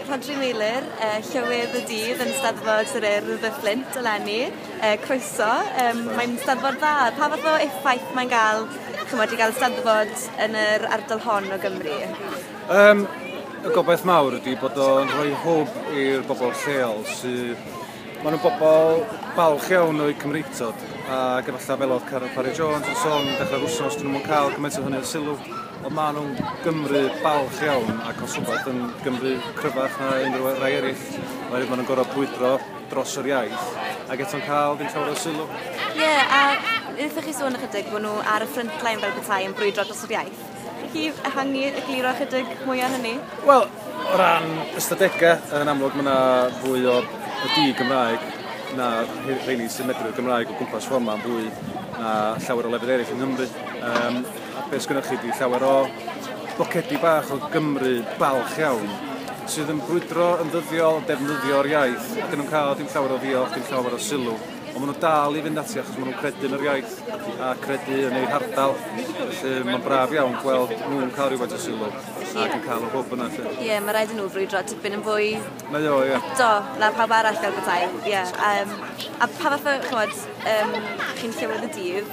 Rhodri Meilir, uh, Llywydd y Dydd yn Steddfod yr Urdd y Fflint eleni. Uh, croeso, um, mae'n steddfod dda. Pa fath o effaith mae'n gael, chymod, i gael steddfod yn yr ardal hon o Gymru? Um, y gobaith mawr ydy bod o'n rhoi hwb i'r bobl lleol sydd... Maen nhw'n bobl balch iawn o'i Cymreictod ac efallai fel oedd Carol Parry Jones yn sôn, dechrau'r wsnos, dyn nhw'n cael cymaint o hynny o sylw. Wel ma' nw'n Gymru balch iawn ac os wbath yn Gymru cryfach na unryw yy rai eryll oherwydd ma' nw'n gor'o' brwydro dros yr iaith ag eto'n ca'l dim llawer o sylw. Ie a nethoch chi sôn ychydig bo' nw ar y front line fel petai yn brwydro dros yr iaith. Chi ehangu egluro ychydig mwy ar hynny? Wel o ran ystadege yn amlwg ma' 'na fwy o y di-Gymraeg na rhei rheini sy'n medru'r Gymraeg o gwmpas ffor 'ma'n fwy na llawer o lefydd eryll yng Nghymru yym A beth sgynnoch chi ydi llawer o bocedi bach o Gymru balch iawn sydd yn brwydro yn ddyddiol, defnyddio'r iaith, ac yn nhw'n cael dim llawer o ddiolch, dim llawer o sylw, ond maen nhw dal i fynd ati achos maen nhw'n credu yn yr iaith a credu yn eu hardal. Felly mae'n braf iawn gweld nhw'n cael rhywbeth o sylw ac yn cael y hwb yna. Ie, yeah, mae rhaid i nhw frwydro tipyn yn fwy... Na o, ie. Yeah. Do, na pawb arall fel bethau. Ie. Yeah. Um, a pa fath o, chymod, um, chi'n llywydd y dydd,